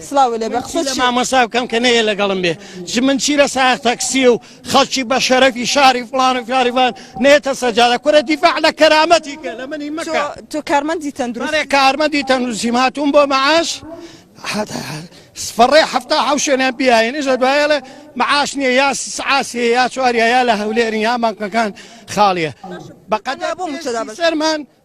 سڵاو لێ بە قسە چی؟ مامۆستا بکەم کە نەیە لەگەڵم بێ چ من چی لە ساق تەکسی و خەڵکی بە شەرەفی شاری فڵان و فلاریوان نێتە سەجادە کورە دیفاع لە کەرامەتی کە لە منی مەکە تۆ- تۆ کارمەندی تەندروست بەڵێ کارمەندی تەندروستیم هاتووم بۆ مەعاش فەڕێ حەفتا حەو شوێنیان پیاینش لە دوایەڵێ مەعاش نییە یا سعاسی یا چواریا یا لە هەولێرن یا بانکەکان خاڵیە بەقەدا بۆ متەدا بەس. سەرمان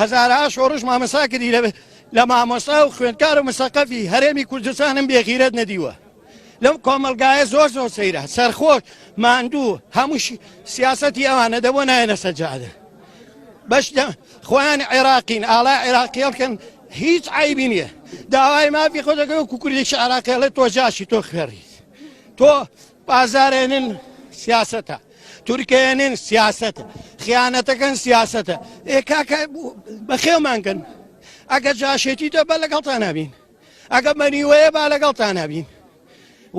هەزارەها شۆڕش مامەسا کردی لە لە مامۆستا و خوێندکار و مسەقەفی هەرێمی کوردستانم بێغیرەت نەدیوە لەم کۆمەلگایە زۆر زۆر سەیرە سەرخۆش ماندوو هەمووشی سیاستی ئەوانە دەبوو نایەنە سەجادە بەش خۆیان عێراقین ئاڵا عێراقیڵکن هیچ عیبی نییە داوای مافی خۆ دەکەوە کوکردێکی عراقیڵێت تۆ جاشی تۆ خوێڕی تۆ بازاڕێنن سیاسەتە تورکێنن سیاسەتە خیانەتەکەن سیاسەتە ئێ کاکە بەخێومانگەن ئەگە جاشێتی دە بە لەگەڵتان نابین ئەگە مەنیوەیە با لەگەڵتان نابین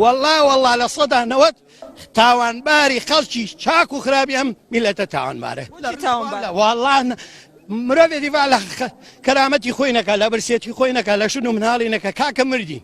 والله والله لە سەدا نەوەت تاوانباری خەڵکی چاک و خراپی ئەم میلەتە تاوانبارە والله مرۆڤێتی وا لە کەرامەتی خۆی نەکە لە برسێتی خۆی نەکە لە شون و مناڵی نەکە کاکە مردین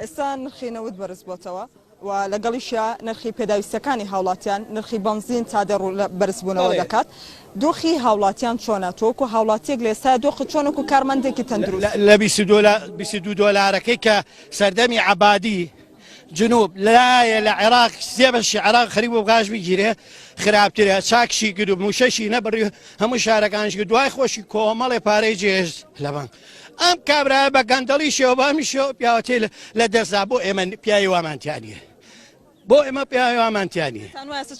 ئێستا نرخی نەوت بەرزبۆتەوە و لەگەڵیشیا نرخی پێداویستەکانی هاوڵاتیان، نرخی بەنزین تا دە ڕوو بەرزبوونەوە دەکات، دۆخی هاوڵاتیان چۆنە؟ تۆ وەکو هاوڵاتیەک لە ئێستایا دۆخت چۆنە وەکو کارمەندێکی تەندروست؟ لە بیست و دوو دۆلارەکەی کە سەردەمی عەبادی جنوب لایە لە عێراق سێ بەشی عێراق خەریک بوو غاز بگیرێ خراپترە چاکشی کرد و مووشەشی نەبڕی هەموو شارەکانیش کرد دوای خۆشی کۆمەڵێ پارەی جێهێشت لە بانک ئەم کابرایە بە گەندەڵی شێوە بامی شێوە پیاوەتی لە دەستدا بۆ ئێمە پیاوی وامانتیانە بۆ ئێمە پیاوی وامانتیانی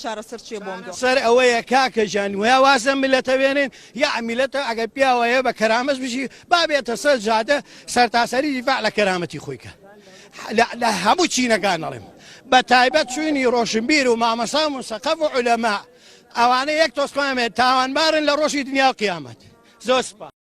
چارەسەر چێ بۆم سەر ئەوەیە کاکە ژان وە وازە ملەتە وێنێن یا میلەتە ئەگەر پیاوەیە بە کەرامەس بژی بابێتە سەر جادە سەرتاسەری دیفاع لە کەرامەتی خۆیکە لە هەموو چینەکان ئەڵێم بە تایبەت چوینی ڕۆشنبیر و مامەسام و سەقەف و علەما ئەوانە یەک تۆسپامێت تاوانبارن لە ڕۆژی دنیا و قیامەت زۆر سپاس